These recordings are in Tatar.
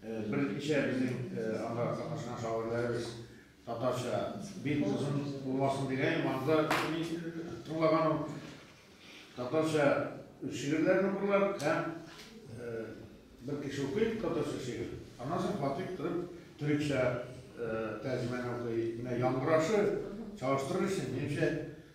Берничә безнең анда катнашкан шагыйрьләребез татарча бик озын булмасын дигәйем, анда мин тыңлаганым татарча үз шигырьләрен укырлар һәм бер кеше укый татарча шигырь, аннан соң Фатих торып төрекчә тәрҗемәне укый. Менә яңгырашы чагыштырыр өчен, минемчә,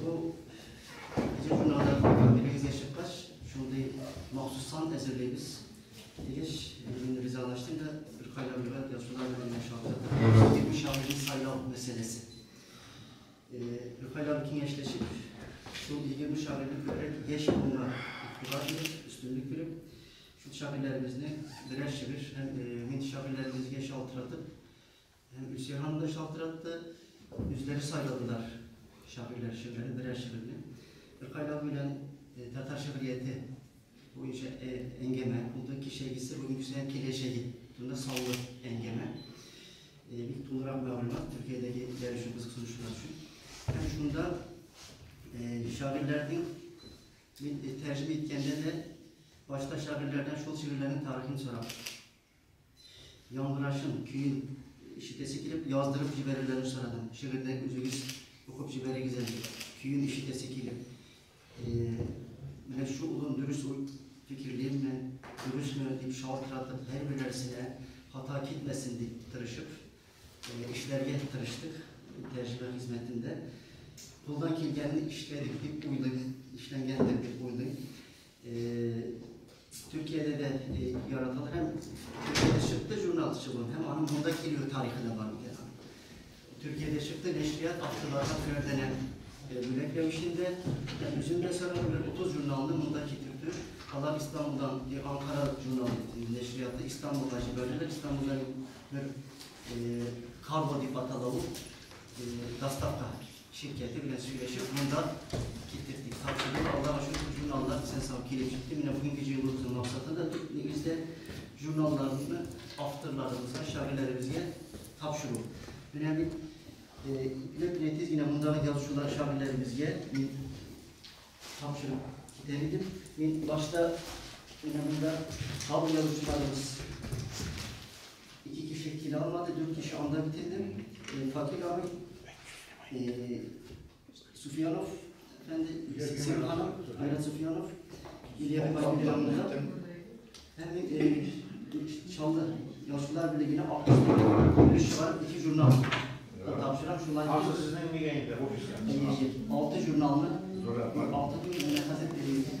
Бу журналда күргәнегезгә чыккач, шундый махсус сан әзерлибез. Дигәч, мин ризалаштым да бер кайда бер язучылар белән шалтыратып, бу шагыйрьне сайлау мәсьәләсе. Бер кайда киңәшләшеп, шул 20 шагыйрьне күбрәк яшь буынга игътибар биреп, өстенлек биреп, шул шагыйрьләребезне берәр шигырь һәм мин шагыйрьләребезгә шалтыратып, Һәм Исиһам да шалтыратты. Үзләре сайладылар шагыйрьләр шигырьләрен, берәр шигырьне. Беркайлау белән татар шигърияте буенча әңгәмә булды. Кичәгесе, бүгенгесе, киләчәге турында саллы әңгәмә. Бик тулырак мәгълүмат Төркиядәге яшь өчен кызыксынучылар өчен. Һәм шунда шагыйрьләрнең мин тәрҗемә иткәндә дә башта шагыйрьләрдән шул шигырьләрнең тарихын сорап Яңгырашын, көен ишетәсе килеп, яздырып җибәрерләрен сорадым. Шигырьдә үзегез укып җибәрегез әле, көен ишетәсе килеп. Менә шу улым дөрес фикерлимме, дөресме дип шалтыратып, һәрберләрсенә хата китмәсен дип тырышып, эшләргә тырыштык тәрҗемә хезмәтендә. Кулдан килгәнне эшләдек дип уйлыйм, эшләнгәндер дип уйлыйм. Төркиядә дә яратылды һәм Төркиядә чыкты журналчы булып, һәм аның монда килү тарихы да бар икән. Төркиядә чыкты, нәшрият авторларга берәрдәнә бүләкләү өчен дә, һәм үзем дә сорап бер 30 журналны монда китерде. Алар Истанбулдан, Анкара журнал нәшрияты Истанбулга җибәрделәр. Истанбулдан бер Карло дип атала ул доставка Ширкәте белән сөйләшеп, монда киттек дип тапшырды. Аллага шөкер, журналлар исән-сау килеп җитте. Менә бүгенге җыелуыбызның максаты да төп нигездә журналларны авторларыбызга, шагыйләребезгә тапшыру. Менә мин ипләп кенә тиз генә мондагы язучылар, шагыйләребезгә мин тапшырып китәр идем. Мин башта менә монда халык язучыларыбыз Ике кеше килә алмады, дүрт кеше анда бит инде. Э, Фатил абый, э, Суфиянов, әфәнде, Сәлим ханым, Айрат Суфиянов, Илья Байбек янында. Һәм мин э, Чаллы Яшьләр берлегенә акча өлеш чыгарып, ике журнал тапшырам. Шулай Акча сезнең нигә инде офиска? Алты журналны, алты күн, менә хәзер бирегез.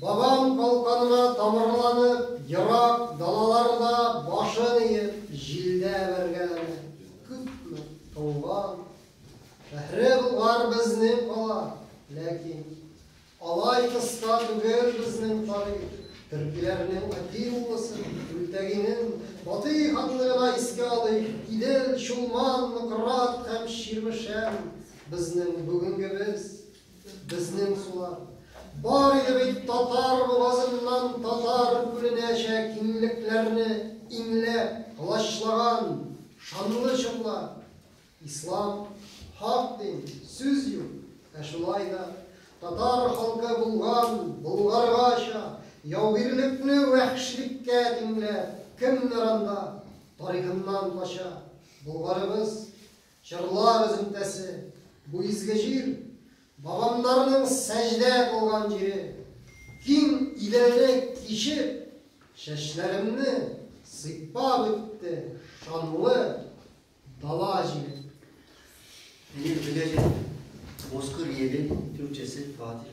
Бабам калканга тамырланып, ерак далаларда башын иеп, җилдә бәргәләнә. Күпме туган, шәһре Болгар безнең кала, ләкин алай кыска түгел безнең тарих. Төркиләрнең Атиллысы, Күлтәгинен, Батый ханны гына искә алыйк, Идел, Чулман, Нократ һәм Чирмешән, безнең бүгенгебез. Безнең сулар. Бар иде бит татар бугазыннан татар күленәчә киңлекләрне иңләп, колачлаган шанлы чорлар. Ислам, хак дин, сүз юк. Ә шулай да татар халкы булган, болгаргача, яугирлекне вәхшлеккә тиңләп, кемнәр анда тарихыннан кача? Болгарыбыз Җырлар өземтәсе, бу изге җир, бабамнарның сәҗдә кылган җире. Киң Иделне кичеп, чәчләремне сыйпап үтте шанлы дала җиле. Минем теләгем, Бозкыр елы, тюркчасы, Фатих.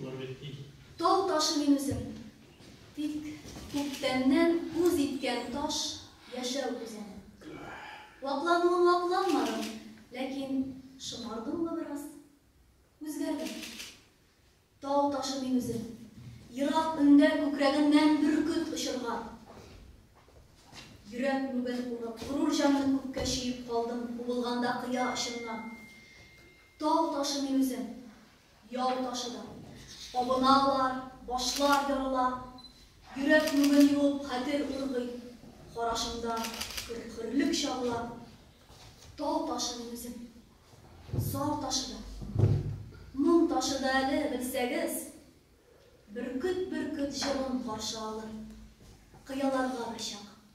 Болар бит тиз. Тау ташы мин үзем. Тик күптәннән үз иткән таш яшәү үзәне. Ваклануын вакланмадым, ләкин шомардыммы бераз? Үзгәрдем. Тау ташы мин үзем. Ерак өндә күкрәгеннән бөркет очырган. Йөрәк мүген урып, горур җанны күккә чөеп калдым, убылганда кыя очыннан. Тау ташы мин үзем. Ял ташыда. Абыналар, башлар ярыла. Йөрәк мүген юып хәтер ургый. Карашыңда көр-көрлек чагыла. Тал ташыдым үзем. Зар ташыда. Моң ташыда әле, белсәгез. Бөркет-бөркет җылын каршы алыр. Кыяларга бер чак.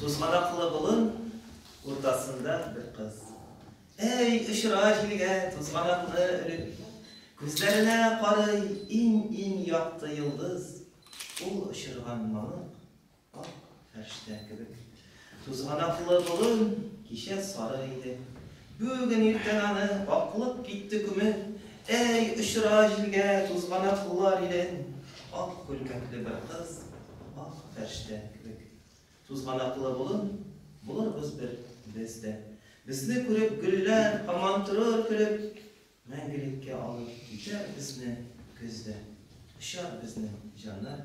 Тузганаклы болын уртасында бер кыз. Әй, очыра җилгә тузганаклы өрек. Күзләренә карый иң-иң якты йолдыз. Ул очырган мамык, ак фәрштә кебек. Тузганаклы болын кичә сары иде. Бүген иртән аны аклып китте күмер, Әй, очыра җилгә тузганаклар илен, Ак күлмәкле бер кыз, ак фәрштә кебек. Тузганаклы болын булырбыз бер без дә. Безне күреп гөлләр һаман торыр көлеп, Мәңгелеккә алып китәр безне көз дә. Очар безнең җаннар